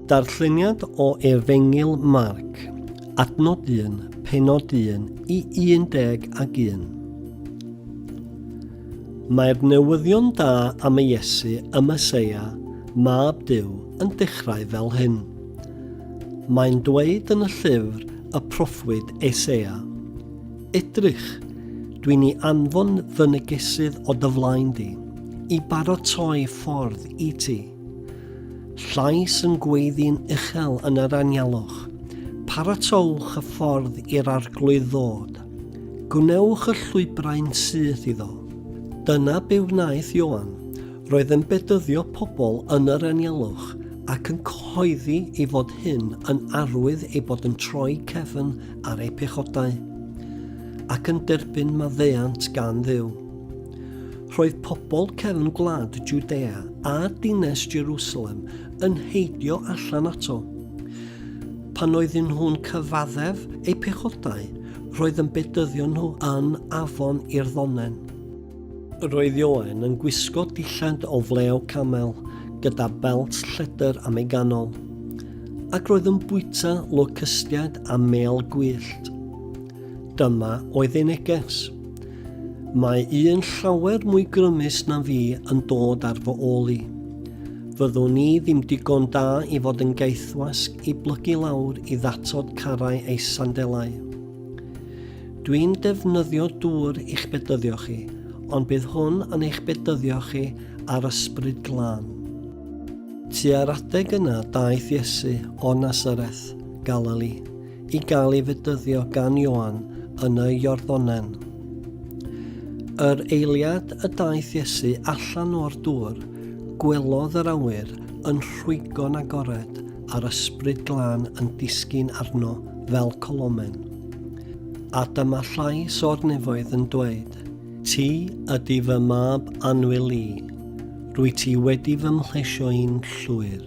Darlleniad o Efengyl Marc, adnod 1, penod 1 i 11. ag un. Mae'r newyddion da am y Iesu y Meseia, Mab Duw, yn dechrau fel hyn. Mae'n dweud yn y llyfr y proffwyd Esea, Edrych, dwi'n i anfon fy negesydd o dy flaen di, i barotoi ffordd i ti. Llais yn gweiddi'n uchel yn yr anialwch. Paratowch y ffordd i'r Arglwydd ddod. Gwnewch y llwybrau'n syth iddo. Dyna be wnaeth Ioan. Roedd yn bedyddio pobl yn yr anialwch ac yn cyhoeddi ei fod hyn yn arwydd ei bod yn troi cefn ar eu pechodau ac yn derbyn maddeuant gan Dduw. Roedd pobl cefn gwlad Judea a dines Jerusalem yn heidio allan ato. Pan oedden nhw'n cyfaddef eu pechodau, roedd yn bedyddio nhw yn afon i'r ddonen. Roedd Ioan yn gwisgo dillad o flew camel gyda belt lledr am ei ganol, ac roedd yn bwyta locystiaid a mêl gwyllt. Dyma oedd ei neges. Mae un llawer mwy grymus na fi yn dod ar fy ôl i. Fyddwn i ddim digon da i fod yn gaethwasg i blygu lawr i ddatod carau ei sandelau. Dwi'n defnyddio dŵr i'ch bedyddio chi, ond bydd hwn yn eich bedyddio chi ar ysbryd glân. Tua'r adeg yna daeth Iesu o Nazareth, Galili, i gael ei fedyddio gan Ioan yn y Iorddonen. Yr eiliad y daeth Iesu allan o'r dŵr, gwelodd yr awyr yn rhwygo'n agored a'r ysbryd glân yn disgyn arno fel colomen. A dyma llais o'r nefoedd yn dweud, Ti ydy fy mab anwyl i, rwy ti wedi fy mhlesio i'n llwyr.